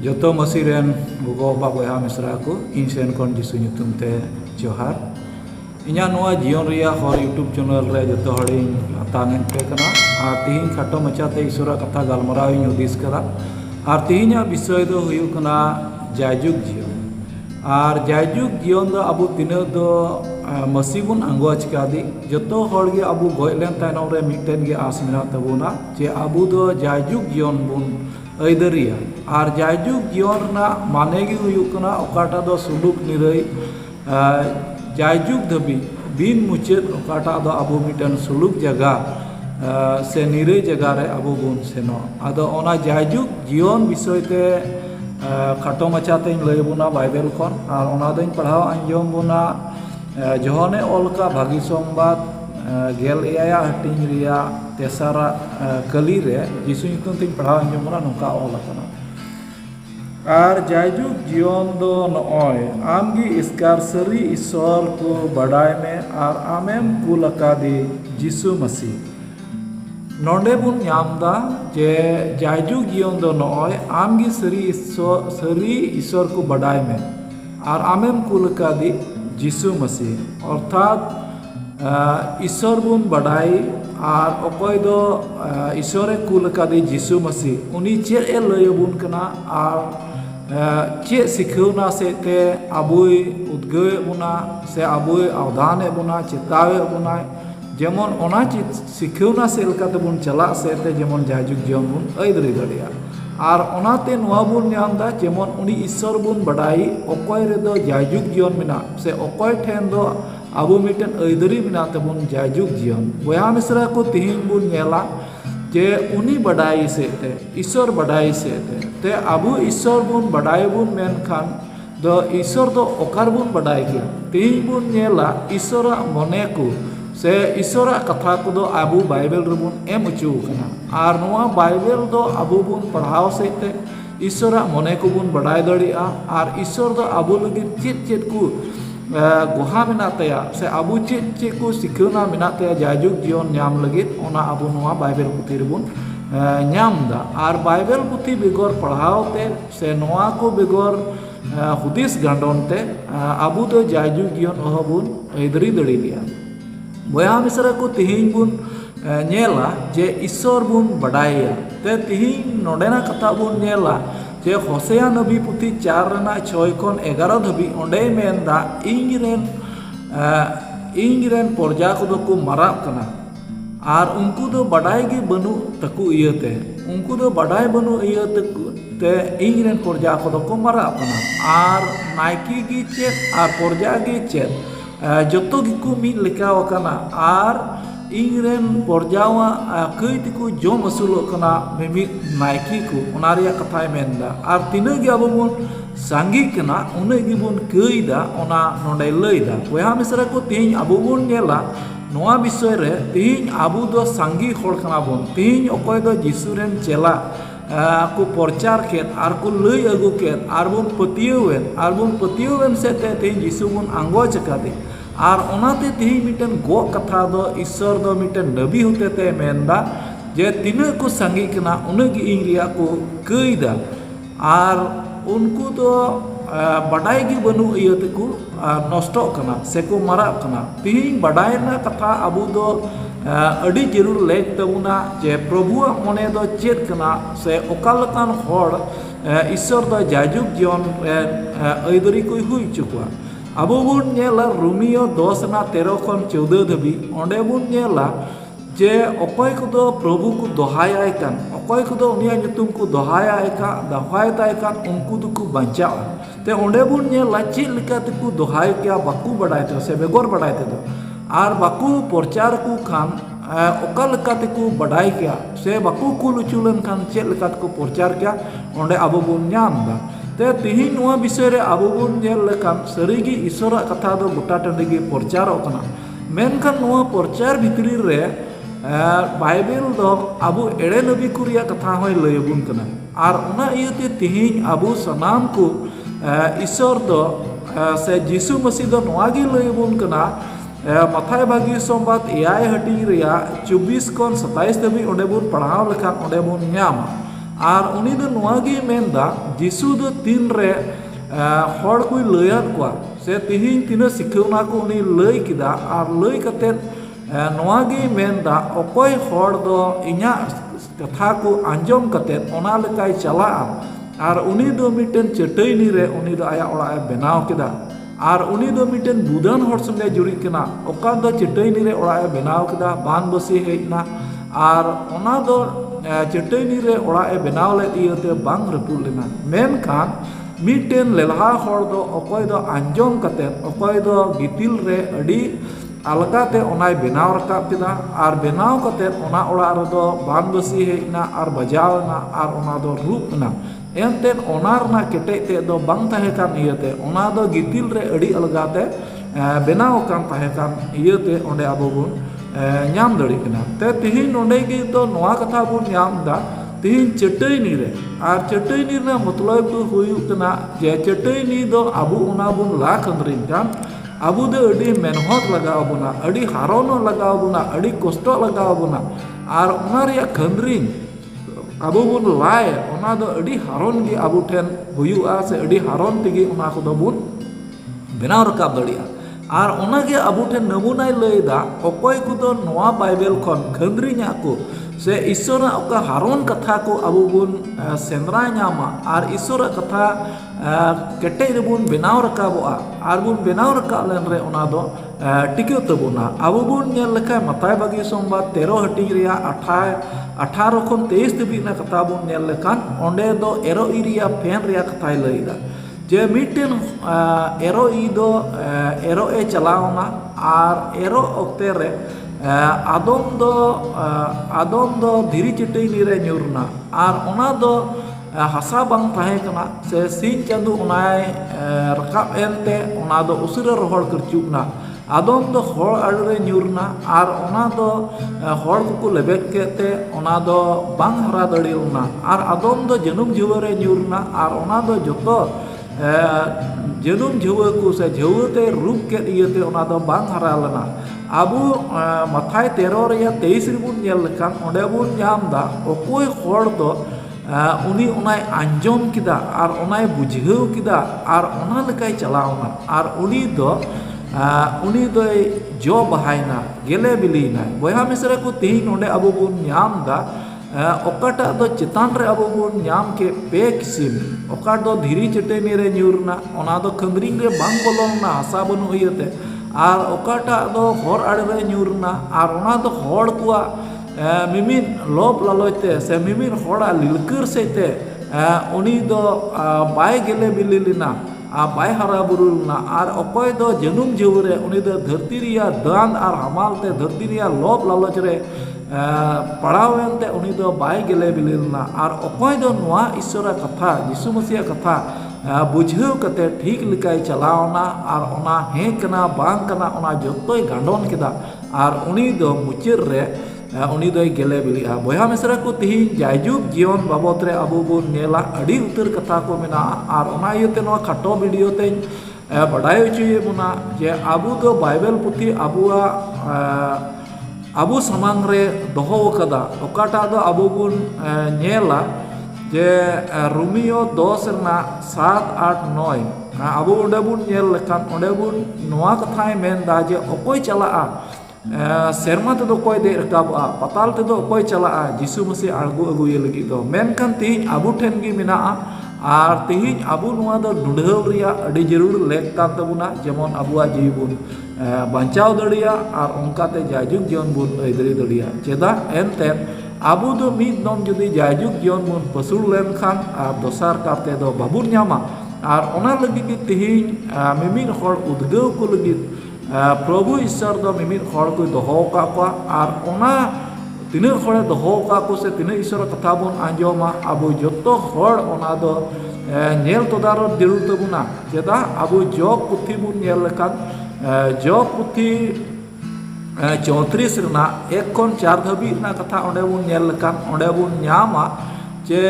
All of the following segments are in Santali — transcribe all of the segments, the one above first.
ᱡᱚᱛᱚ ᱢᱟᱹᱥᱤ ᱨᱮᱱ ᱜᱚᱜᱚ ᱵᱟᱵᱟ ᱵᱚᱭᱦᱟ ᱢᱤᱥᱨᱟ ᱠᱚ ᱤᱧ ᱥᱮᱱ ᱠᱷᱚᱱ ᱡᱤᱥᱩ ᱧᱩᱛᱩᱢ ᱛᱮ ᱡᱚᱦᱟᱨ ᱤᱧᱟᱹᱜ ᱱᱚᱣᱟ ᱡᱤᱭᱚᱱ ᱨᱮᱭᱟᱜ ᱦᱚᱨ ᱤᱭᱩᱴᱩᱵᱽ ᱪᱮᱱᱮᱞ ᱨᱮ ᱡᱚᱛᱚ ᱦᱚᱲᱤᱧ ᱦᱟᱛᱟᱣ ᱧᱚᱜ ᱯᱮ ᱠᱟᱱᱟ ᱟᱨ ᱛᱮᱦᱮᱧ ᱠᱷᱟᱴᱚ ᱢᱟᱪᱷᱟᱛᱮ ᱤᱥᱚᱨᱟᱜ ᱠᱟᱛᱷᱟ ᱜᱟᱞᱢᱟᱨᱟᱣ ᱤᱧ ᱦᱩᱫᱤᱥ ᱠᱟᱫᱟ ᱟᱨ ᱛᱮᱦᱮᱧᱟᱜ ᱵᱤᱥᱚᱭ ᱫᱚ ᱦᱩᱭᱩᱜ ᱠᱟᱱᱟ ᱡᱟᱭᱡᱩᱜᱽ ᱡᱤᱭᱚᱱ ᱟᱨ ᱡᱟᱭᱡᱩᱜᱽ ᱡᱤᱭᱚᱱ ᱫᱚ ᱟᱵᱚ ᱛᱤᱱᱟᱹᱜ ᱫᱚ ᱢᱟᱹᱥᱤ ᱵᱚᱱ ᱟᱸᱜᱚᱪ ᱠᱟᱣᱫᱮ ᱡᱚᱛᱚ ᱦᱚᱲ ᱜᱮ ᱟᱵᱚ ᱜᱚᱡ ᱞᱮᱱ ᱛᱟᱭᱱᱚᱢ ᱨᱮ ᱢᱤᱫᱴᱮᱱ ᱜᱮ ᱟᱸᱥ ᱢᱮᱱᱟᱜ ᱛᱟᱵᱚᱱᱟ ᱡᱮ ᱟᱵᱚ ᱫᱚ ᱡᱟᱭᱡᱩᱜᱽ ᱡᱤᱭᱚᱱ ᱵᱚᱱ ᱟᱹᱭᱫᱟᱹᱨᱤᱭᱟ ᱟᱨ ᱡᱟᱭᱡᱩᱜᱽ ᱡᱤᱭᱚᱱ ᱨᱮᱱᱟᱜ ᱢᱟᱱᱮ ᱜᱮ ᱦᱩᱭᱩᱜ ᱠᱟᱱᱟ ᱚᱠᱟᱴᱟᱜ ᱫᱚ ᱥᱩᱞᱩᱠ ᱱᱤᱨᱟᱹᱭ ᱡᱟᱭᱡᱩᱜᱽ ᱫᱷᱟᱹᱵᱤᱡ ᱵᱤᱱ ᱢᱩᱪᱟᱹᱫ ᱚᱠᱟᱴᱟᱜ ᱫᱚ ᱟᱵᱚ ᱢᱤᱫᱴᱮᱱ ᱥᱩᱞᱩᱠ ᱡᱟᱭᱜᱟ ᱥᱮ ᱱᱤᱨᱟᱹᱭ ᱡᱟᱭᱜᱟ ᱨᱮ ᱟᱵᱚ ᱵᱚᱱ ᱥᱮᱱᱚᱜ ᱟᱫᱚ ᱚᱱᱟ ᱡᱟᱭᱡᱩᱜᱽ ᱡᱤᱭᱚᱱ ᱵᱤᱥᱚᱭ ᱛᱮ ᱠᱷᱟᱴᱚ ᱢᱟᱪᱷᱟ ᱛᱤᱧ ᱞᱟᱹᱭ ᱟᱵᱚᱱᱟ ᱵᱟᱭᱵᱮᱞ ᱠᱷᱚᱱ ᱟᱨ ᱚᱱᱟ ᱫᱩᱧ ᱯᱟᱲᱦᱟᱣ ᱟᱸᱡᱚᱢ ᱟᱵᱚᱱᱟ ᱡᱚᱦᱚᱱᱮ ᱚᱞ ᱟᱠᱟᱫ ᱵᱷᱟᱹᱜᱤ ᱥᱚᱝᱵᱟᱫᱽ ᱜᱮᱞ ᱮᱭᱟᱭᱟᱜ ᱦᱟᱹᱴᱤᱧ ᱨᱮᱭᱟᱜ ᱛᱮᱥᱟᱨᱟᱜ ᱠᱟᱹᱞᱤ ᱨᱮ ᱡᱤᱥᱩ ᱧᱩᱛᱩᱢ ᱛᱤᱧ ᱯᱟᱲᱦᱟᱣ ᱟᱸᱡᱚᱢ ᱵᱚᱱᱟ ᱱᱚᱝᱠᱟ ᱚᱞ ᱟᱠᱟᱱᱟ ᱟᱨ ᱡᱟᱭᱡᱩᱜᱽ ᱡᱤᱭᱚᱱ ᱫᱚ ᱱᱚᱜᱼᱚᱭ ᱟᱢ ᱜᱮ ᱮᱥᱠᱟᱨ ᱥᱟᱹᱨᱤ ᱤᱥᱥᱚᱨ ᱠᱚ ᱵᱟᱰᱟᱭ ᱢᱮ ᱟᱨ ᱟᱢᱮᱢ ᱠᱩᱞ ᱟᱠᱟᱫᱮ ᱡᱤᱥᱩ ᱢᱟᱹᱥᱤ ᱱᱚᱰᱮ ᱵᱚᱱ ᱧᱟᱢ ᱮᱫᱟ ᱡᱮ ᱡᱟᱭᱡᱩᱜᱽ ᱡᱤᱭᱚᱱ ᱫᱚ ᱱᱚᱜᱼᱚᱭ ᱟᱢ ᱜᱮ ᱥᱟᱹᱨᱤ ᱤᱥᱥᱚᱨ ᱥᱟᱹᱨᱤ ᱤᱥᱥᱚᱨ ᱠᱚ ᱵᱟᱰᱟᱭ ᱢᱮ ᱟᱨ ᱟᱢᱮᱢ ᱠᱩᱞ ᱟᱠᱟᱫᱤᱡ ᱡᱤᱥᱩ ᱢᱟᱹᱥᱤ ᱚᱨᱛᱷᱟᱛ ᱤᱥᱚᱨ ᱵᱚᱱ ᱵᱟᱰᱟᱭ ᱟᱨ ᱚᱠᱚᱭ ᱫᱚ ᱤᱥᱚᱨᱮ ᱠᱩᱞ ᱟᱠᱟᱫᱮ ᱡᱤᱥᱩ ᱢᱟᱹᱥᱤ ᱩᱱᱤ ᱪᱮᱫ ᱮ ᱞᱟᱹᱭ ᱟᱵᱚᱱ ᱠᱟᱱᱟ ᱟᱨ ᱪᱮᱫ ᱥᱤᱠᱷᱟᱹᱣᱱᱟ ᱥᱮᱫ ᱛᱮ ᱟᱵᱚᱭ ᱩᱫᱽᱜᱟᱹᱣᱮᱫ ᱵᱚᱱᱟ ᱥᱮ ᱟᱵᱚᱭ ᱟᱣᱫᱷᱟᱱᱮᱫ ᱵᱚᱱᱟ ᱪᱮᱛᱟᱣᱮᱫ ᱵᱚᱱᱟᱭ ᱡᱮᱢᱚᱱ ᱚᱱᱟ ᱪᱮᱫ ᱥᱤᱠᱷᱟᱹᱣᱱᱟ ᱥᱮᱫ ᱞᱮᱠᱟ ᱛᱮᱵᱚᱱ ᱪᱟᱞᱟᱜ ᱥᱮᱫ ᱛᱮ ᱡᱮᱢᱚᱱ ᱡᱟᱭᱡᱩᱜᱽ ᱡᱤᱭᱚᱱ ᱵᱚᱱ ᱟᱹᱭᱫᱟᱹᱨᱤ ᱫᱟᱲᱮᱭᱟᱜ ᱟᱨ ᱚᱱᱟᱛᱮ ᱱᱚᱣᱟ ᱵᱚᱱ ᱧᱟᱢ ᱮᱫᱟ ᱡᱮᱢᱚᱱ ᱩᱱᱤ ᱤᱥᱥᱚᱨ ᱵᱚᱱ ᱵᱟᱰᱟᱭ ᱚᱠᱚᱭ ᱨᱮᱫᱚ ᱡᱟᱭᱡᱩᱜᱽ ᱡᱤᱭᱚᱱ ᱢᱮᱱᱟᱜ ᱥᱮ ᱚᱠᱚᱭ ᱴᱷᱮᱱ ᱫᱚ ᱟᱵᱚ ᱢᱤᱫᱴᱮᱱ ᱟᱹᱭᱫᱟᱹᱨᱤ ᱢᱮᱱᱟᱜ ᱛᱟᱵᱚᱱ ᱡᱟᱭᱡᱩᱜᱽ ᱡᱤᱭᱚᱱ ᱵᱚᱭᱦᱟ ᱢᱤᱥᱨᱟ ᱠᱚ ᱛᱮᱦᱮᱧ ᱵᱚᱱ ᱧᱮᱞᱟ ᱡᱮ ᱩᱱᱤ ᱵᱟᱰᱟᱭ ᱥᱮᱫ ᱛᱮ ᱤᱥᱥᱚᱨ ᱵᱟᱰᱟᱭ ᱥᱮᱫ ᱛᱮ ᱛᱮ ᱟᱵᱚ ᱤᱥᱥᱚᱨ ᱵᱚᱱ ᱵᱟᱰᱟᱭ ᱵᱚᱱ ᱢᱮᱱᱠᱷᱟᱱ ᱫᱚ ᱤᱥᱥᱚᱨ ᱫᱚ ᱚᱠᱟ ᱨᱮᱵᱚᱱ ᱵᱟᱰᱟᱭ ᱠᱮᱭᱟ ᱛᱮᱦᱤᱧ ᱵᱚᱱ ᱧᱮᱞᱟ ᱤᱥᱥᱚᱨᱟᱜ ᱢᱚᱱᱮ ᱠᱚ ᱥᱮ ᱤᱥᱥᱚᱨᱟᱜ ᱠᱟᱛᱷᱟ ᱠᱚᱫᱚ ᱟᱵᱚ ᱵᱟᱭᱵᱮᱞ ᱨᱮᱵᱚᱱ ᱮᱢ ᱦᱚᱪᱚ ᱠᱟᱱᱟ ᱟᱨ ᱱᱚᱣᱟ ᱵᱟᱭᱵᱮᱞ ᱫᱚ ᱟᱵᱚ ᱵᱚᱱ ᱯᱟᱲᱦᱟᱣ ᱥᱮᱫ ᱛᱮ ᱤᱥᱥᱚᱨᱟᱜ ᱢᱚᱱᱮ ᱠᱚᱵᱚᱱ ᱵᱟᱲᱟᱭ ᱫᱟᱲᱮᱭᱟᱜᱼᱟ ᱟᱨ ᱤᱥᱥᱚᱨ ᱫᱚ ᱟᱵᱚ ᱞᱟᱹᱜᱤᱫ ᱪᱮᱫ ᱪᱮᱫ ᱠᱚ ᱜᱚᱦᱟ ᱢᱮᱱᱟᱜ ᱛᱟᱭᱟ ᱥᱮ ᱟᱵᱚ ᱪᱮᱫ ᱪᱮᱫ ᱠᱚ ᱥᱤᱠᱷᱟᱹᱣᱱᱟ ᱢᱮᱱᱟᱜ ᱛᱟᱭᱟ ᱡᱟᱭᱡᱩᱜᱽ ᱡᱤᱭᱚᱱ ᱧᱟᱢ ᱞᱟᱹᱜᱤᱫ ᱚᱱᱟ ᱟᱵᱚ ᱱᱚᱣᱟ ᱵᱟᱭᱵᱮᱞ ᱯᱩᱛᱷᱤ ᱨᱮᱵᱚᱱ ᱧᱟᱢᱫᱟ ᱟᱨ ᱵᱟᱭᱵᱮᱞ ᱯᱩᱛᱷᱤ ᱵᱮᱜᱚᱨ ᱯᱟᱲᱦᱟᱣ ᱛᱮ ᱥᱮ ᱱᱚᱣᱟ ᱠᱚ ᱵᱮᱜᱚᱨ ᱦᱩᱫᱤᱥ ᱜᱟᱸᱰᱚᱱ ᱛᱮ ᱟᱵᱚ ᱫᱚ ᱡᱟᱭᱡᱩᱜᱽ ᱡᱤᱭᱚᱱ ᱚᱦᱚ ᱵᱚᱱ ᱟᱹᱭᱫᱟᱹᱨᱤ ᱫᱟᱲᱮ ᱠᱮᱭᱟ ᱵᱚᱭᱦᱟ ᱢᱤᱥᱨᱟ ᱠᱚ ᱛᱮᱦᱤᱧ ᱵᱚᱱ ᱧᱮᱞᱟ ᱡᱮ ᱤᱥᱥᱚᱨ ᱵᱚᱱ ᱵᱟᱰᱟᱭᱮᱭᱟ ᱥᱮ ᱛᱮᱦᱤᱧ ᱱᱚᱰᱮᱱᱟᱜ ᱠᱟᱛᱷᱟ ᱵᱚᱱ ᱧᱮᱞᱟ ᱡᱮ ᱦᱚᱥᱮᱭᱟ ᱱᱚᱵᱤ ᱯᱩᱛᱷᱤ ᱪᱟᱨ ᱨᱮᱱᱟᱜ ᱪᱷᱚᱭ ᱠᱷᱚᱱ ᱮᱜᱟᱨᱚ ᱫᱷᱟᱹᱵᱤᱡ ᱚᱸᱰᱮᱭ ᱢᱮᱱᱫᱟ ᱤᱧ ᱨᱮᱱ ᱤᱧ ᱨᱮᱱ ᱯᱨᱚᱡᱟ ᱠᱚᱫᱚ ᱠᱚ ᱢᱟᱨᱟᱜ ᱠᱟᱱᱟ ᱟᱨ ᱩᱱᱠᱩ ᱫᱚ ᱵᱟᱰᱟᱭ ᱜᱮ ᱵᱟᱹᱱᱩᱜ ᱛᱟᱠᱚ ᱤᱭᱟᱹᱛᱮ ᱩᱱᱠᱩ ᱫᱚ ᱵᱟᱰᱟᱭ ᱵᱟᱹᱱᱩᱜ ᱤᱭᱟᱹ ᱛᱟᱠᱚ ᱛᱮ ᱤᱧ ᱨᱮᱱ ᱯᱨᱚᱡᱟ ᱠᱚᱫᱚ ᱠᱚ ᱢᱟᱨᱟᱜ ᱠᱟᱱᱟ ᱟᱨ ᱱᱟᱭᱠᱮ ᱜᱮ ᱪᱮᱫ ᱟᱨ ᱯᱨᱚᱡᱟ ᱜᱮ ᱪᱮᱫ ᱡᱚᱛᱚ ᱜᱮᱠᱚ ᱢᱤᱫ ᱞᱮᱠᱟᱣ ᱠᱟᱱᱟ ᱟᱨ ᱤᱧ ᱨᱮᱱ ᱯᱨᱚᱡᱟᱣᱟᱜ ᱠᱟᱹᱭ ᱛᱮᱠᱚ ᱡᱚᱢ ᱟᱹᱥᱩᱞᱚᱜ ᱠᱟᱱᱟ ᱢᱤᱢᱤᱫ ᱱᱟᱭᱠᱮ ᱠᱚ ᱚᱱᱟ ᱨᱮᱭᱟᱜ ᱠᱟᱛᱷᱟᱭ ᱢᱮᱱᱫᱟ ᱟᱨ ᱛᱤᱱᱟᱹᱜ ᱜᱮ ᱟᱵᱚ ᱵᱚᱱ ᱥᱟᱸᱜᱮᱜ ᱠᱟᱱᱟ ᱩᱱᱟᱹᱜ ᱜᱮᱵᱚᱱ ᱠᱟᱹᱭᱫᱟ ᱚᱱᱟ ᱱᱚᱰᱮᱭ ᱞᱟᱹᱭᱫᱟ ᱵᱚᱭᱦᱟ ᱢᱤᱥᱨᱟ ᱠᱚ ᱛᱮᱦᱤᱧ ᱟᱵᱚ ᱵᱚᱱ ᱧᱮᱞᱟ ᱱᱚᱣᱟ ᱵᱤᱥᱚᱭ ᱨᱮ ᱛᱮᱦᱮᱧ ᱟᱵᱚ ᱫᱚ ᱥᱟᱸᱜᱮ ᱦᱚᱲ ᱠᱟᱱᱟ ᱵᱚᱱ ᱛᱮᱦᱮᱧ ᱚᱠᱚᱭ ᱫᱚ ᱡᱤᱥᱩ ᱨᱮᱱ ᱪᱮᱞᱟ ᱠᱚ ᱯᱨᱚᱪᱟᱨ ᱠᱮᱫ ᱟᱨ ᱠᱚ ᱞᱟᱹᱭ ᱟᱹᱜᱩ ᱠᱮᱫ ᱟᱨ ᱵᱚᱱ ᱯᱟᱹᱛᱭᱟᱹᱣ ᱮᱱ ᱟᱨ ᱵᱚᱱ ᱯᱟᱹᱛᱭᱟᱹᱣ ᱮᱱ ᱥᱮᱫ ᱛᱮ ᱛᱮᱦᱮᱧ ᱡᱤᱥᱩ ᱵᱚᱱ ᱟᱸᱜᱚᱪ ᱟᱠᱟᱫᱮ ᱟᱨ ᱚᱱᱟᱛᱮ ᱛᱮᱦᱮᱧ ᱢᱤᱫᱴᱮᱱ ᱜᱚᱜ ᱠᱟᱛᱷᱟ ᱫᱚ ᱤᱥᱥᱚᱨ ᱫᱚ ᱢᱤᱫᱴᱮᱱ ᱫᱟᱹᱵᱤ ᱦᱚᱛᱮ ᱛᱮ ᱢᱮᱱᱫᱟ ᱡᱮ ᱛᱤᱱᱟᱹᱜ ᱠᱚ ᱥᱟᱸᱜᱮᱜ ᱠᱟᱱᱟ ᱩᱱᱟᱹᱜ ᱜᱮ ᱤᱧ ᱨᱮᱭᱟᱜ ᱠᱚ ᱠᱟᱹᱭᱫᱟ ᱟᱨ ᱩᱱᱠᱩ ᱫᱚ ᱵᱟᱰᱟᱭ ᱜᱮ ᱵᱟᱹᱱᱩᱜ ᱤᱭᱟᱹ ᱛᱮᱠᱚ ᱱᱚᱥᱴᱚᱜ ᱠᱟᱱᱟ ᱥᱮᱠᱚ ᱢᱟᱨᱟᱜ ᱠᱟᱱᱟ ᱛᱮᱦᱤᱧ ᱵᱟᱰᱟᱭ ᱨᱮᱱᱟᱜ ᱠᱟᱛᱷᱟ ᱟᱵᱚ ᱫᱚ ᱟᱹᱰᱤ ᱡᱟᱹᱨᱩᱲ ᱞᱮᱠ ᱛᱟᱵᱚᱱᱟ ᱡᱮ ᱯᱨᱚᱵᱷᱩᱣᱟᱜ ᱢᱚᱱᱮ ᱫᱚ ᱪᱮᱫ ᱠᱟᱱᱟ ᱥᱮ ᱚᱠᱟ ᱞᱮᱠᱟᱱ ᱦᱚᱲ ᱤᱥᱥᱚᱨ ᱫᱚ ᱡᱟᱭᱡᱩᱜᱽ ᱡᱤᱭᱚᱱ ᱨᱮ ᱟᱹᱭᱫᱟᱹᱨᱤ ᱠᱚᱭ ᱦᱩᱭ ᱦᱚᱪᱚ ᱠᱚᱣᱟ ᱟᱵᱚ ᱵᱚᱱ ᱧᱮᱞᱟ ᱨᱳᱢᱤᱭᱳ ᱫᱚᱥ ᱨᱮᱱᱟᱜ ᱛᱮᱨᱚ ᱠᱷᱚᱱ ᱪᱳᱫᱫᱳ ᱫᱷᱟᱹᱵᱤᱡ ᱚᱸᱰᱮ ᱵᱚᱱ ᱧᱮᱞᱟ ᱡᱮ ᱚᱠᱚᱭ ᱠᱚᱫᱚ ᱯᱨᱚᱵᱷᱩ ᱠᱚ ᱫᱚᱦᱟᱭᱟᱭ ᱠᱟᱱ ᱚᱠᱚᱭ ᱠᱚᱫᱚ ᱩᱱᱤᱭᱟᱜ ᱧᱩᱛᱩᱢ ᱠᱚ ᱫᱚᱦᱟᱭᱟᱭ ᱠᱟᱱ ᱫᱚᱦᱟᱭ ᱛᱟᱭ ᱠᱟᱱ ᱩᱱᱠᱩ ᱫᱚᱠᱚ ᱵᱟᱧᱪᱟᱜᱼᱟ ᱛᱮ ᱚᱸᱰᱮ ᱵᱚᱱ ᱧᱮᱞᱟ ᱪᱮᱫ ᱞᱮᱠᱟ ᱛᱮᱠᱚ ᱫᱚᱦᱟᱭ ᱠᱮᱭᱟ ᱵᱟᱠᱚ ᱵᱟᱰᱟᱭ ᱛᱮ ᱥᱮ ᱵᱮᱜᱚᱨ ᱵᱟᱰᱟᱭ ᱛᱮᱫᱚ ᱟᱨ ᱵᱟᱠᱚ ᱯᱨᱚᱪᱟᱨ ᱠᱚ ᱠᱷᱟᱱ ᱚᱠᱟ ᱞᱮᱠᱟ ᱛᱮᱠᱚ ᱵᱟᱰᱟᱭ ᱠᱮᱭᱟ ᱥᱮ ᱵᱟᱠᱚ ᱠᱩᱞ ᱦᱚᱪᱚ ᱞᱮᱱᱠᱷᱟᱱ ᱪᱮᱫ ᱞᱮᱠᱟ ᱛᱮᱠᱚ ᱯᱨᱚᱪᱟᱨ ᱠᱮᱭᱟ ᱚᱸᱰᱮ ᱟᱵᱚ ᱵᱚᱱ ᱧᱟᱢ ᱮᱫᱟ ᱛᱮ ᱛᱮᱦᱮᱧ ᱱᱚᱣᱟ ᱵᱤᱥᱚᱭ ᱨᱮ ᱟᱵᱚ ᱵᱚᱱ ᱧᱮᱞ ᱞᱮᱠᱷᱟᱱ ᱥᱟᱹᱨᱤᱜᱮ ᱤᱥᱥᱚᱨᱟᱜ ᱠᱟᱛᱷᱟ ᱫᱚ ᱜᱳᱴᱟ ᱴᱟᱺᱰᱤ ᱜᱮ ᱯᱨᱚᱪᱟᱨᱚᱜ ᱠᱟᱱᱟ ᱢᱮᱱᱠᱷᱟᱱ ᱱᱚᱣᱟ ᱯᱨᱚᱪᱟᱨ ᱵᱷᱤᱛᱨᱤ ᱨᱮ ᱵᱟᱭᱵᱮᱞ ᱫᱚ ᱟᱵᱚ ᱮᱲᱮ ᱱᱟᱵᱤ ᱠᱚ ᱨᱮᱭᱟᱜ ᱠᱟᱛᱷᱟ ᱦᱚᱸᱭ ᱞᱟᱹᱭ ᱟᱵᱚᱱ ᱠᱟᱱᱟ ᱟᱨ ᱚᱱᱟ ᱤᱭᱟᱹᱛᱮ ᱛᱮᱦᱮᱧ ᱟᱵᱚ ᱥᱟᱱᱟᱢ ᱠᱚ ᱤᱥᱥᱚᱨ ᱫᱚ ᱥᱮ ᱡᱤᱥᱩ ᱢᱟᱹᱥᱤ ᱫᱚ ᱱᱚᱣᱟ ᱜᱮ ᱞᱟᱹᱭ ᱟᱵᱚᱱ ᱠᱟᱱᱟ ᱢᱟᱛᱷᱟᱭ ᱵᱷᱟᱹᱜᱤ ᱥᱚᱢᱵᱟᱫ ᱮᱭᱟᱭ ᱦᱟᱹᱴᱤᱧ ᱨᱮᱭᱟᱜ ᱪᱚᱵᱵᱤᱥ ᱠᱷᱚᱱ ᱥᱟᱛᱟᱭᱤᱥ ᱫᱷᱟᱹᱵᱤᱡ ᱚᱸᱰᱮ ᱵᱚᱱ ᱯᱟᱲᱦᱟᱣ ᱞᱮᱠᱷᱟᱱ ᱚᱸᱰᱮ ᱵᱚᱱ ᱧᱟᱢᱟ ᱟᱨ ᱩᱱᱤ ᱫᱚ ᱱᱚᱣᱟ ᱜᱮᱭ ᱢᱮᱱᱫᱟ ᱡᱤᱥᱩ ᱫᱚ ᱛᱤᱱ ᱨᱮ ᱦᱚᱲ ᱠᱚᱭ ᱞᱟᱹᱭᱟᱫ ᱠᱚᱣᱟ ᱥᱮ ᱛᱮᱦᱮᱧ ᱛᱤᱱᱟᱹᱜ ᱥᱤᱠᱷᱟᱹᱣᱱᱟ ᱠᱚ ᱩᱱᱤ ᱞᱟᱹᱭ ᱠᱮᱫᱟ ᱟᱨ ᱞᱟᱹᱭ ᱠᱟᱛᱮ ᱱᱚᱣᱟ ᱜᱮᱭ ᱢᱮᱱᱫᱟ ᱚᱠᱚᱭ ᱦᱚᱲ ᱫᱚ ᱤᱧᱟᱹᱜ ᱠᱟᱛᱷᱟ ᱠᱚ ᱟᱸᱡᱚᱢ ᱠᱟᱛᱮ ᱚᱱᱟ ᱞᱮᱠᱟᱭ ᱪᱟᱞᱟᱜᱼᱟ ᱟᱨ ᱩᱱᱤ ᱫᱚ ᱢᱤᱫᱴᱮᱱ ᱪᱟᱹᱴᱟᱹᱱᱤ ᱨᱮ ᱩᱱᱤ ᱫᱚ ᱟᱭᱟᱜ ᱚᱲᱟᱜ ᱮ ᱵᱮᱱᱟᱣ ᱠᱮᱫᱟ ᱟᱨ ᱩᱱᱤ ᱫᱚ ᱢᱤᱫᱴᱮᱱ ᱵᱩᱫᱟᱹᱱ ᱦᱚᱲ ᱥᱚᱸᱜᱮ ᱡᱩᱨᱤᱜ ᱠᱟᱱᱟ ᱚᱠᱟ ᱫᱚ ᱪᱟᱹᱴᱟᱹᱱᱤ ᱨᱮ ᱚᱲᱟᱜ ᱮ ᱵᱮᱱᱟᱣ ᱠᱮᱫᱟ ᱵᱟᱱᱵᱟᱹᱥᱤ ᱦᱮᱡ ᱮᱱᱟ ᱟᱨ ᱚᱱᱟ ᱫᱚ ᱪᱟᱹᱴᱟᱹᱱᱤ ᱨᱮ ᱚᱲᱟᱜ ᱮ ᱵᱮᱱᱟᱣ ᱞᱮᱫ ᱤᱭᱟᱹᱛᱮ ᱵᱟᱝ ᱨᱟᱹᱯᱩᱫ ᱞᱮᱱᱟ ᱢᱮᱱᱠᱷᱟᱱ ᱢᱤᱫᱴᱮᱱ ᱞᱮᱞᱦᱟ ᱦᱚᱲ ᱫᱚ ᱚᱠᱚᱭ ᱫᱚ ᱟᱸᱡᱚᱢ ᱠᱟᱛᱮ ᱚᱠᱚᱭ ᱫᱚ ᱜᱤᱛᱤᱞ ᱨᱮ ᱟᱹᱰᱤ ᱟᱞᱜᱟ ᱛᱮ ᱚᱱᱟᱭ ᱵᱮᱱᱟᱣ ᱨᱟᱠᱟᱵ ᱠᱮᱫᱟ ᱟᱨ ᱵᱮᱱᱟᱣ ᱠᱟᱛᱮ ᱚᱱᱟ ᱚᱲᱟᱜ ᱨᱮᱫᱚ ᱵᱟᱝ ᱵᱮᱥᱤ ᱦᱮᱡ ᱮᱱᱟ ᱟᱨ ᱵᱟᱡᱟᱣ ᱮᱱᱟ ᱟᱨ ᱚᱱᱟ ᱫᱚ ᱨᱩᱫ ᱮᱱᱟ ᱮᱱᱛᱮ ᱚᱱᱟ ᱨᱮᱱᱟᱜ ᱠᱮᱴᱮᱡ ᱛᱮᱫ ᱫᱚ ᱵᱟᱝ ᱛᱟᱦᱮᱸ ᱠᱟᱱ ᱤᱭᱟᱹᱛᱮ ᱚᱱᱟ ᱫᱚ ᱜᱤᱛᱤᱞ ᱨᱮ ᱟᱹᱰᱤ ᱟᱞᱜᱟ ᱛᱮ ᱵᱮᱱᱟᱣ ᱟᱠᱟᱱ ᱛᱟᱦᱮᱸ ᱠᱟᱱ ᱤᱭᱟᱹᱛᱮ ᱚᱸᱰᱮ ᱟᱵᱚ ᱵᱚᱱ ᱧᱟᱢ ᱫᱟᱲᱮᱜ ᱠᱟᱱᱟ ᱛᱮ ᱛᱮᱦᱮᱧ ᱱᱚᱰᱮ ᱜᱮ ᱱᱤᱛᱚᱜ ᱱᱚᱣᱟ ᱠᱟᱛᱷᱟ ᱵᱚᱱ ᱧᱟᱢᱫᱟ ᱛᱮᱦᱮᱧ ᱪᱟᱹᱴᱟᱹᱭᱱᱤ ᱨᱮ ᱟᱨ ᱪᱟᱹᱴᱟᱹᱭᱱᱤ ᱨᱮᱱᱟᱜ ᱢᱚᱛᱞᱚᱵ ᱫᱚ ᱦᱩᱭᱩᱜ ᱠᱟᱱᱟ ᱡᱮ ᱪᱟᱹᱴᱟᱹᱭᱱᱤ ᱫᱚ ᱟᱵᱚ ᱚᱱᱟ ᱵᱚᱱ ᱞᱟ ᱠᱷᱟᱹᱫᱽᱨᱤᱧ ᱠᱟᱱ ᱟᱵᱚ ᱫᱚ ᱟᱹᱰᱤ ᱢᱮᱦᱱᱚᱛ ᱞᱟᱜᱟᱣ ᱵᱚᱱᱟ ᱟᱹᱰᱤ ᱦᱟᱨᱚᱱᱚᱜ ᱞᱟᱜᱟᱣ ᱵᱚᱱᱟ ᱟᱹᱰᱤ ᱠᱚᱥᱴᱚᱜ ᱞᱟᱜᱟᱣ ᱵᱚᱱᱟ ᱟᱨ ᱚᱱᱟ ᱨᱮᱭᱟᱜ ᱠᱷᱟᱹᱫᱽᱨᱤᱧ ᱟᱵᱚ ᱵᱚᱱ ᱞᱟᱭᱟ ᱚᱱᱟ ᱫᱚ ᱟᱹᱰᱤ ᱦᱟᱨᱚᱱ ᱜᱮ ᱟᱵᱚ ᱴᱷᱮᱱ ᱦᱩᱭᱩᱜᱼᱟ ᱥᱮ ᱟᱹᱰᱤ ᱦᱟᱨᱚᱱ ᱛᱮᱜᱮ ᱚᱱᱟ ᱠᱚᱫᱚ ᱵᱚᱱ ᱵᱮᱱᱟᱣ ᱨᱟᱠᱟᱵ ᱫᱟᱲᱮᱭᱟᱜᱼᱟ ᱟᱨ ᱚᱱᱟᱜᱮ ᱟᱵᱚ ᱴᱷᱮᱱ ᱱᱟᱢᱩᱱᱟᱭ ᱞᱟᱹᱭᱫᱟ ᱚᱠᱚᱭ ᱠᱚᱫᱚ ᱱᱚᱣᱟ ᱵᱟᱭᱵᱮᱞ ᱠᱷᱚᱱ ᱠᱷᱟᱹᱫᱽᱨᱤ ᱧᱟᱜ ᱠᱚ ᱥᱮ ᱤᱥᱥᱚᱨᱟᱜ ᱚᱠᱟ ᱦᱟᱨᱚᱱ ᱠᱟᱛᱷᱟ ᱠᱚ ᱟᱵᱚ ᱵᱚᱱ ᱥᱮᱸᱫᱽᱨᱟ ᱧᱟᱢᱟ ᱟᱨ ᱤᱥᱥᱚᱨᱟᱜ ᱠᱟᱛᱷᱟ ᱠᱮᱴᱮᱡ ᱨᱮᱵᱚᱱ ᱵᱮᱱᱟᱣ ᱨᱟᱠᱟᱵᱚᱜᱼᱟ ᱟᱨ ᱵᱚᱱ ᱵᱮᱱᱟᱣ ᱨᱟᱠᱟᱵ ᱞᱮᱱ ᱨᱮ ᱚᱱᱟ ᱫᱚ ᱴᱤᱠᱟᱹᱜ ᱛᱟᱵᱚᱱᱟ ᱟᱵᱚ ᱵᱚᱱ ᱧᱮᱞ ᱞᱮᱠᱷᱟᱱ ᱢᱟᱛᱷᱟᱭ ᱵᱟᱹᱜᱤ ᱥᱚᱢᱵᱟᱫ ᱛᱮᱨᱚ ᱦᱟᱹᱴᱤᱧ ᱨᱮᱭᱟᱜ ᱟᱴᱷᱟ ᱟᱴᱷᱟᱨᱚ ᱠᱷᱚᱱ ᱛᱮᱭᱤᱥ ᱫᱷᱟᱹᱵᱤᱡ ᱨᱮᱭᱟᱜ ᱠᱟᱛᱷᱟ ᱵᱚᱱ ᱧᱮᱞ ᱞᱮᱠᱷᱟᱱ ᱚᱸᱰᱮ ᱫᱚ ᱮᱨᱚᱜ ᱤᱨᱤᱭᱟ ᱯᱷᱮᱱ ᱨᱮᱭᱟᱜ ᱠᱟᱛᱷᱟᱭ ᱞᱟᱹᱭᱫᱟ ᱡᱮ ᱢᱤᱫᱴᱮᱱ ᱮᱨᱚᱜᱤᱡ ᱫᱚ ᱮᱨᱚᱜ ᱮ ᱪᱟᱞᱟᱣᱱᱟ ᱟᱨ ᱮᱨᱚᱜ ᱚᱠᱛᱮ ᱨᱮ ᱟᱫᱚᱢ ᱫᱚ ᱟᱫᱚᱢ ᱫᱚ ᱫᱷᱤᱨᱤ ᱪᱟᱹᱴᱟᱹᱱᱤ ᱨᱮ ᱧᱩᱨ ᱮᱱᱟ ᱟᱨ ᱚᱱᱟ ᱫᱚ ᱦᱟᱥᱟ ᱵᱟᱝ ᱛᱟᱦᱮᱸ ᱠᱟᱱᱟ ᱥᱮ ᱥᱤᱧ ᱪᱟᱸᱫᱚ ᱚᱱᱟᱭ ᱨᱟᱠᱟᱵ ᱮᱱᱛᱮ ᱚᱱᱟ ᱫᱚ ᱩᱥᱟᱹᱨᱟ ᱨᱚᱦᱚᱲ ᱠᱟᱹᱲᱪᱩᱜ ᱮᱱᱟ ᱟᱫᱚᱢ ᱫᱚ ᱦᱚᱲ ᱟᱲᱮ ᱨᱮ ᱧᱩᱨ ᱮᱱᱟ ᱟᱨ ᱚᱱᱟ ᱫᱚ ᱦᱚᱲ ᱠᱚᱠᱚ ᱞᱮᱵᱮᱫ ᱠᱮᱫ ᱛᱮ ᱚᱱᱟ ᱫᱚ ᱵᱟᱝ ᱦᱟᱨᱟ ᱫᱟᱲᱮ ᱞᱮᱱᱟ ᱟᱨ ᱟᱫᱚᱢ ᱫᱚ ᱡᱟᱹᱱᱩᱢ ᱡᱷᱟᱹᱣᱟᱹ ᱨᱮ ᱧᱩᱨ ᱮᱱᱟ ᱟᱨ ᱚᱱᱟ ᱫᱚ ᱡᱚᱛᱚ ᱡᱟᱹᱱᱩᱢ ᱡᱷᱟᱹᱣᱟᱹ ᱠᱚ ᱥᱮ ᱡᱷᱟᱹᱣᱟᱹ ᱛᱮ ᱨᱩᱯ ᱠᱮᱫ ᱤᱭᱟᱹᱛᱮ ᱚᱱᱟ ᱫᱚ ᱵᱟᱝ ᱦᱟᱨᱟ ᱞᱮᱱᱟ ᱟᱵᱚ ᱢᱟᱛᱷᱟᱭ ᱛᱮᱨᱚ ᱨᱮᱭᱟᱜ ᱛᱮᱭᱤᱥ ᱨᱮᱵᱚᱱ ᱧᱮᱞ ᱞᱮᱠᱷᱟᱱ ᱚᱸᱰᱮ ᱵᱚᱱ ᱧᱟᱢᱫᱟ ᱚᱠᱚᱭ ᱦᱚᱲ ᱫᱚ ᱩᱱᱤ ᱚᱱᱟᱭ ᱟᱸᱡᱚᱢ ᱠᱮᱫᱟ ᱟᱨ ᱚᱱᱟᱭ ᱵᱩᱡᱷᱟᱹᱣ ᱠᱮᱫᱟ ᱟᱨ ᱚᱱᱟ ᱞᱮᱠᱟᱭ ᱪᱟᱞᱟᱣᱱᱟ ᱟᱨ ᱩᱱᱤ ᱫᱚ ᱩᱱᱤ ᱫᱚᱭ ᱡᱚ ᱵᱟᱦᱟᱭᱮᱱᱟ ᱜᱮᱞᱮ ᱵᱤᱞᱤᱭᱮᱱᱟ ᱵᱚᱭᱦᱟ ᱢᱤᱥᱨᱟ ᱠᱚ ᱛᱮᱦᱤᱧ ᱱᱚᱰᱮ ᱟᱵᱚ ᱵᱚᱱ ᱧᱟᱢ ᱮᱫᱟ ᱚᱠᱟᱴᱟᱜ ᱫᱚ ᱪᱮᱛᱟᱱ ᱨᱮ ᱟᱵᱚ ᱵᱚᱱ ᱧᱟᱢ ᱠᱮᱫ ᱯᱮ ᱠᱤᱥᱤᱢ ᱚᱠᱟ ᱫᱚ ᱫᱷᱤᱨᱤ ᱪᱟᱹᱴᱟᱹᱱᱤ ᱨᱮ ᱧᱩᱨ ᱮᱱᱟ ᱚᱱᱟ ᱫᱚ ᱠᱷᱟᱹᱫᱽᱨᱤᱡ ᱨᱮ ᱵᱟᱝ ᱵᱚᱞᱚ ᱞᱮᱱᱟ ᱦᱟᱥᱟ ᱵᱟᱹᱱᱩᱜ ᱤᱭᱟᱹᱛᱮ ᱟᱨ ᱚᱠᱟᱴᱟᱜ ᱫᱚ ᱦᱚᱨ ᱟᱲᱮᱨᱮ ᱧᱩᱨ ᱮᱱᱟ ᱟᱨ ᱚᱱᱟ ᱫᱚ ᱦᱚᱲ ᱠᱚᱣᱟᱜ ᱢᱤᱢᱤᱫ ᱞᱚᱵᱽ ᱞᱟᱞᱚᱪ ᱛᱮ ᱥᱮ ᱢᱤᱢᱤᱫ ᱦᱚᱲᱟᱜ ᱞᱤᱞᱠᱟᱹᱨ ᱥᱮᱫ ᱛᱮ ᱩᱱᱤ ᱫᱚ ᱵᱟᱭ ᱜᱮᱞᱮ ᱵᱤᱞᱤ ᱞᱮᱱᱟ ᱟᱨ ᱵᱟᱭ ᱦᱟᱨᱟᱼᱵᱩᱨᱩ ᱞᱮᱱᱟ ᱟᱨ ᱚᱠᱚᱭ ᱫᱚ ᱡᱟᱹᱱᱩᱢ ᱡᱷᱟᱹᱣᱟᱹ ᱨᱮ ᱩᱱᱤ ᱫᱚ ᱫᱷᱟᱹᱨᱛᱤ ᱨᱮᱭᱟᱜ ᱫᱟᱱ ᱟᱨ ᱦᱟᱢᱟᱞ ᱛᱮ ᱫᱷᱟᱹᱨᱛᱤ ᱨᱮᱭᱟᱜ ᱞᱚᱵᱽ ᱞᱟᱞᱚᱪ ᱨᱮ ᱯᱟᱲᱟᱣ ᱮᱱᱛᱮ ᱩᱱᱤ ᱫᱚ ᱵᱟᱭ ᱜᱮᱞᱮ ᱵᱤᱞᱤ ᱞᱮᱱᱟ ᱟᱨ ᱚᱠᱚᱭ ᱫᱚ ᱱᱚᱣᱟ ᱤᱥᱥᱚᱨᱟᱜ ᱠᱟᱛᱷᱟ ᱡᱤᱥᱩ ᱢᱟᱹᱥᱤᱭᱟᱜ ᱠᱟᱛᱷᱟ ᱵᱩᱡᱷᱟᱹᱣ ᱠᱟᱛᱮ ᱴᱷᱤᱠ ᱞᱮᱠᱟᱭ ᱪᱟᱞᱟᱣᱱᱟ ᱟᱨ ᱚᱱᱟ ᱦᱮᱸ ᱠᱟᱱᱟ ᱵᱟᱝ ᱠᱟᱱᱟ ᱚᱱᱟ ᱡᱚᱛᱚᱭ ᱜᱟᱸᱰᱚᱱ ᱠᱮᱫᱟ ᱟᱨ ᱩᱱᱤ ᱫᱚ ᱢᱩᱪᱟᱹᱫ ᱨᱮ ᱩᱱᱤ ᱫᱚᱭ ᱜᱮᱞᱮ ᱵᱤᱞᱤᱜᱼᱟ ᱵᱚᱭᱦᱟ ᱢᱤᱥᱨᱟ ᱠᱚ ᱛᱮᱦᱤᱧ ᱡᱟᱭᱡᱩᱜᱽ ᱡᱤᱭᱚᱱ ᱵᱟᱵᱚᱫ ᱨᱮ ᱟᱵᱚ ᱵᱚᱱ ᱧᱮᱞᱟ ᱟᱹᱰᱤ ᱩᱛᱟᱹᱨ ᱠᱟᱛᱷᱟ ᱠᱚ ᱢᱮᱱᱟᱜᱼᱟ ᱟᱨ ᱚᱱᱟ ᱤᱭᱟᱹᱛᱮ ᱱᱚᱣᱟ ᱠᱷᱟᱴᱚ ᱵᱷᱤᱰᱤᱭᱳ ᱛᱤᱧ ᱵᱟᱰᱟᱭ ᱦᱚᱪᱚᱭᱮᱫ ᱵᱚᱱᱟ ᱡᱮ ᱟᱵᱚ ᱫᱚ ᱵᱟᱭᱵᱮᱞ ᱯᱩᱛᱷᱤ ᱟᱵᱚᱣᱟᱜ ᱟᱵᱚ ᱥᱟᱢᱟᱝ ᱨᱮ ᱫᱚᱦᱚ ᱠᱟᱫᱟ ᱚᱠᱟᱴᱟᱜ ᱫᱚ ᱟᱵᱚ ᱵᱚᱱ ᱧᱮᱞᱟ ᱡᱮ ᱨᱳᱢᱤᱭᱳ ᱫᱚᱥ ᱨᱮᱱᱟᱜ ᱥᱟᱛ ᱟᱴ ᱱᱚᱭ ᱟᱵᱚ ᱚᱸᱰᱮ ᱵᱚᱱ ᱧᱮᱞ ᱞᱮᱠᱷᱟᱱ ᱚᱸᱰᱮ ᱵᱚᱱ ᱱᱚᱣᱟ ᱠᱟᱛᱷᱟᱭ ᱢᱮᱱᱫᱟ ᱡᱮ ᱚᱠᱚᱭ ᱪᱟᱞᱟᱜᱼᱟ ᱥᱮᱨᱢᱟ ᱛᱮᱫᱚ ᱚᱠᱚᱭ ᱫᱮᱡ ᱨᱟᱠᱟᱵᱚᱜᱼᱟ ᱯᱟᱛᱟᱞ ᱛᱮᱫᱚ ᱚᱠᱚᱭ ᱪᱟᱞᱟᱜᱼᱟ ᱡᱤᱥᱩ ᱢᱟᱹᱥᱤ ᱟᱬᱜᱚ ᱟᱹᱜᱩᱭᱮ ᱞᱟᱹᱜᱤᱫ ᱫᱚ ᱢᱮᱱᱠᱷᱟᱱ ᱛᱮᱦᱤᱧ ᱟᱵᱚ ᱴᱷᱮᱱ ᱜᱮ ᱢᱮᱱᱟᱜᱼᱟ ᱟᱨ ᱛᱮᱦᱤᱧ ᱟᱵᱚ ᱱᱚᱣᱟ ᱫᱚ ᱰᱷᱩᱞᱟᱹᱣ ᱨᱮᱭᱟᱜ ᱟᱹᱰᱤ ᱡᱟᱹᱨᱩᱲ ᱞᱮᱠ ᱠᱟᱱ ᱛᱟᱵᱚᱱᱟ ᱡᱮᱢᱚᱱ ᱟᱵᱚᱣᱟᱜ ᱡᱤᱣᱤ ᱵᱚᱱ ᱵᱟᱧᱪᱟᱣ ᱫᱟᱲᱮᱭᱟᱜ ᱟᱨ ᱚᱱᱠᱟᱛᱮ ᱡᱟᱭᱡᱩᱜᱽ ᱡᱤᱭᱚᱱ ᱵᱚᱱ ᱟᱹᱭᱫᱟᱹᱨᱤ ᱫᱟᱲᱮᱭᱟᱜ ᱪᱮᱫᱟᱜ ᱮᱱᱛᱮᱫ ᱟᱵᱚ ᱫᱚ ᱢᱤᱫ ᱫᱚᱢ ᱡᱩᱫᱤ ᱡᱟᱭᱡᱩᱜᱽ ᱡᱤᱭᱚᱱ ᱵᱚᱱ ᱯᱟᱹᱥᱩᱲ ᱞᱮᱱᱠᱷᱟᱱ ᱟᱨ ᱫᱚᱥᱟᱨ ᱠᱟᱨᱛᱮ ᱫᱚ ᱵᱟᱵᱚᱱ ᱧᱟᱢᱟ ᱟᱨ ᱚᱱᱟ ᱞᱟᱹᱜᱤᱫ ᱜᱮ ᱛᱮᱦᱤᱧ ᱢᱤᱢᱤᱫ ᱦᱚᱲ ᱩᱫᱽᱜᱟᱹᱣ ᱠᱚ ᱞᱟᱹᱜᱤᱫ ᱯᱨᱚᱵᱷᱩ ᱤᱥᱥᱚᱨ ᱫᱚ ᱢᱤᱢᱤᱫ ᱦᱚᱲ ᱠᱚᱭ ᱫᱚᱦᱚ ᱟᱠᱟᱫ ᱠᱚᱣᱟ ᱟᱨ ᱚᱱᱟ ᱛᱤᱱᱟᱹᱜ ᱦᱚᱲᱮ ᱫᱚᱦᱚ ᱟᱠᱟᱫ ᱠᱚᱣᱟ ᱥᱮ ᱛᱤᱱᱟᱹᱜ ᱤᱥᱥᱚᱨᱟᱜ ᱠᱟᱛᱷᱟ ᱵᱚᱱ ᱟᱸᱡᱚᱢᱟ ᱟᱵᱚ ᱡᱚᱛᱚ ᱦᱚᱲ ᱚᱱᱟ ᱫᱚ ᱧᱮᱞ ᱛᱚᱫᱟᱨᱚᱫ ᱡᱟᱹᱨᱩᱲ ᱛᱟᱵᱚᱱᱟ ᱪᱮᱫᱟᱜ ᱟᱵᱚ ᱡᱚᱜᱽ ᱯᱩᱛᱷᱤ ᱵᱚᱱ ᱧᱮᱞ ᱞᱮᱠᱷᱟᱱ ᱡᱚᱜᱽ ᱯᱩᱛᱷᱤ ᱪᱚᱣᱛᱨᱤᱥ ᱨᱮᱱᱟᱜ ᱮᱠ ᱠᱷᱚᱱ ᱪᱟᱨ ᱫᱷᱟᱹᱵᱤᱡ ᱨᱮᱱᱟᱜ ᱠᱟᱛᱷᱟ ᱚᱸᱰᱮ ᱵᱚᱱ ᱧᱮᱞ ᱞᱮᱠᱷᱟᱱ ᱚᱸᱰᱮ ᱵᱚᱱ ᱧᱟᱢᱟ ᱡᱮ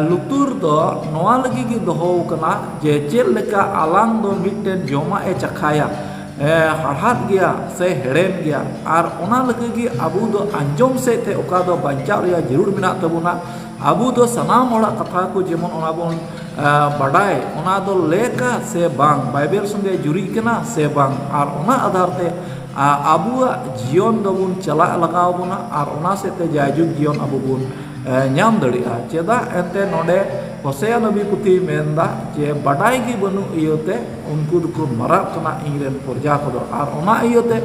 ᱞᱩᱛᱩᱨ ᱫᱚ ᱱᱚᱣᱟ ᱞᱟᱹᱜᱤᱫ ᱜᱮ ᱫᱚᱦᱚ ᱟᱠᱟᱱᱟ ᱡᱮ ᱪᱮᱫ ᱞᱮᱠᱟ ᱟᱞᱟᱝ ᱫᱚ ᱢᱤᱫᱴᱮᱱ ᱡᱚᱢᱟᱜ ᱮ ᱪᱟᱠᱷᱟᱭᱟ ᱦᱟᱲᱦᱟᱫ ᱜᱮᱭᱟ ᱥᱮ ᱦᱮᱲᱮᱢ ᱜᱮᱭᱟ ᱟᱨ ᱚᱱᱟ ᱞᱟᱹᱜᱤᱫ ᱜᱮ ᱟᱵᱚ ᱫᱚ ᱟᱸᱡᱚᱢ ᱥᱮᱫ ᱛᱮ ᱚᱠᱟ ᱫᱚ ᱵᱟᱧᱪᱟᱣ ᱨᱮᱭᱟᱜ ᱡᱟᱹᱨᱩᱲ ᱢᱮᱱᱟᱜ ᱛᱟᱵᱚᱱᱟ ᱟᱵᱚ ᱫᱚ ᱥᱟᱱᱟᱢ ᱦᱚᱲᱟᱜ ᱠᱟᱛᱷᱟ ᱠᱚ ᱡᱮᱢᱚᱱ ᱚᱱᱟ ᱵᱚᱱ ᱵᱟᱰᱟᱭ ᱚᱱᱟ ᱫᱚ ᱞᱮᱠᱼᱟ ᱥᱮ ᱵᱟᱝ ᱵᱟᱭᱵᱮᱞ ᱥᱚᱸᱜᱮ ᱡᱩᱨᱤᱜ ᱠᱟᱱᱟ ᱥᱮ ᱵᱟᱝ ᱟᱨ ᱚᱱᱟ ᱟᱫᱷᱟᱨ ᱛᱮ ᱟᱵᱚᱣᱟᱜ ᱡᱤᱭᱚᱱ ᱫᱚᱵᱚᱱ ᱪᱟᱞᱟᱜ ᱞᱟᱜᱟᱣ ᱵᱚᱱᱟ ᱟᱨ ᱚᱱᱟ ᱥᱮᱫ ᱛᱮ ᱡᱟᱭᱡᱩᱜᱽ ᱡᱤᱭᱚᱱ ᱟᱵᱚ ᱵᱚᱱ ᱧᱟᱢ ᱫᱟᱲᱮᱭᱟᱜᱼᱟ ᱪᱮᱫᱟᱜ ᱮᱱᱛᱮᱫ ᱱᱚᱰᱮ ᱦᱚᱥᱮᱭᱟ ᱱᱚᱵᱤ ᱯᱩᱛᱷᱤᱭ ᱢᱮᱱᱫᱟ ᱡᱮ ᱵᱟᱰᱟᱭ ᱜᱮ ᱵᱟᱹᱱᱩᱜ ᱤᱭᱟᱹᱛᱮ ᱩᱱᱠᱩ ᱫᱚᱠᱚ ᱢᱟᱨᱟᱜ ᱠᱟᱱᱟ ᱤᱧ ᱨᱮᱱ ᱯᱨᱚᱡᱟ ᱠᱚᱫᱚ ᱟᱨ ᱚᱱᱟ ᱤᱭᱟᱹᱛᱮ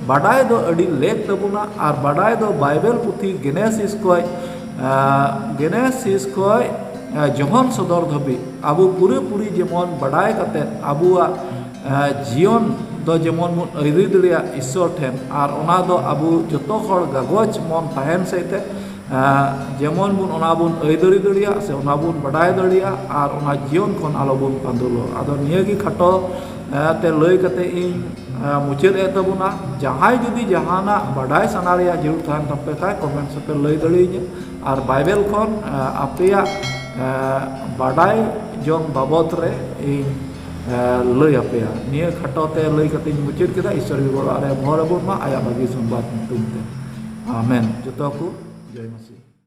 ᱵᱟᱰᱟᱭ ᱫᱚ ᱟᱹᱰᱤ ᱞᱮᱠ ᱛᱟᱵᱚᱱᱟ ᱟᱨ ᱵᱟᱰᱟᱭ ᱫᱚ ᱵᱟᱭᱵᱮᱞ ᱯᱩᱛᱷᱤ ᱜᱮᱱᱮᱥᱤᱥ ᱠᱷᱚᱡ ᱜᱮᱱᱮᱥᱤᱥ ᱠᱷᱚᱡ ᱡᱚᱦᱚᱱ ᱥᱚᱫᱚᱨ ᱫᱷᱟᱹᱵᱤᱡ ᱟᱵᱚ ᱯᱩᱨᱟᱹᱯᱩᱨᱤ ᱡᱮᱢᱚᱱ ᱵᱟᱰᱟᱭ ᱠᱟᱛᱮ ᱟᱵᱚᱣᱟᱜ ᱡᱤᱭᱚᱱ ᱫᱚ ᱡᱮᱢᱚᱱ ᱵᱚᱱ ᱟᱹᱭᱨᱤ ᱫᱟᱲᱮᱭᱟᱜ ᱤᱥᱥᱚᱨ ᱴᱷᱮᱱ ᱟᱨ ᱚᱱᱟ ᱫᱚ ᱟᱵᱚ ᱡᱚᱛᱚ ᱦᱚᱲ ᱜᱟᱜᱚᱡᱽ ᱢᱚᱱ ᱛᱟᱦᱮᱱ ᱥᱮᱫ ᱛᱮ ᱡᱮᱢᱚᱱ ᱵᱚᱱ ᱚᱱᱟ ᱵᱚᱱ ᱟᱹᱭᱫᱟᱹᱨᱤ ᱫᱟᱲᱮᱭᱟᱜ ᱥᱮ ᱚᱱᱟ ᱵᱚᱱ ᱵᱟᱰᱟᱭ ᱫᱟᱲᱮᱭᱟᱜ ᱟᱨ ᱚᱱᱟ ᱡᱤᱭᱚᱱ ᱠᱷᱚᱱ ᱟᱞᱚ ᱵᱚᱱ ᱯᱟᱺᱰᱩᱞᱚᱜ ᱟᱫᱚ ᱱᱤᱭᱟᱹ ᱜᱮ ᱠᱷᱟᱴᱚ ᱛᱮ ᱞᱟᱹᱭ ᱠᱟᱛᱮ ᱤᱧ ᱢᱩᱪᱟᱹᱫ ᱮᱫ ᱛᱟᱵᱚᱱᱟ ᱡᱟᱦᱟᱸᱭ ᱡᱩᱫᱤ ᱡᱟᱦᱟᱱᱟᱜ ᱵᱟᱰᱟᱭ ᱥᱟᱱᱟ ᱨᱮᱭᱟᱜ ᱡᱟᱹᱨᱩᱲ ᱛᱟᱦᱮᱱ ᱛᱟᱯᱮ ᱠᱷᱟᱱ ᱠᱚᱢᱮᱱᱴᱥ ᱨᱮᱯᱮ ᱞᱟᱹᱭ ᱫᱟᱲᱮᱭᱟᱹᱧᱟᱹ ᱟᱨ ᱵᱟᱭᱵᱮᱞ ᱠᱷᱚᱱ ᱟᱯᱮᱭᱟᱜ ᱵᱟᱰᱟᱭ ᱡᱚᱝ ᱵᱟᱵᱚᱫ ᱨᱮ ᱤᱧ ᱞᱟᱹᱭ ᱟᱯᱮᱭᱟ ᱱᱤᱭᱟᱹ ᱠᱷᱟᱴᱚ ᱛᱮ ᱞᱟᱹᱭ ᱠᱟᱛᱮᱧ ᱢᱩᱪᱟᱹᱫ ᱠᱮᱫᱟ ᱤᱥᱥᱚᱨ ᱜᱮ ᱜᱚᱲᱚ ᱟᱞᱮᱭᱟ ᱵᱷᱚᱨ ᱟᱵᱚᱱ ᱢᱟ ᱟᱭᱟᱜ ᱵᱷᱟᱹᱜᱤ ᱥᱚᱝᱵᱟᱫ ᱧᱩᱛᱩᱢ ᱛᱮ ᱟᱢᱮᱱ ᱡᱚᱛᱚ ᱠᱚ ᱡᱚᱭ ᱢᱟᱥᱤ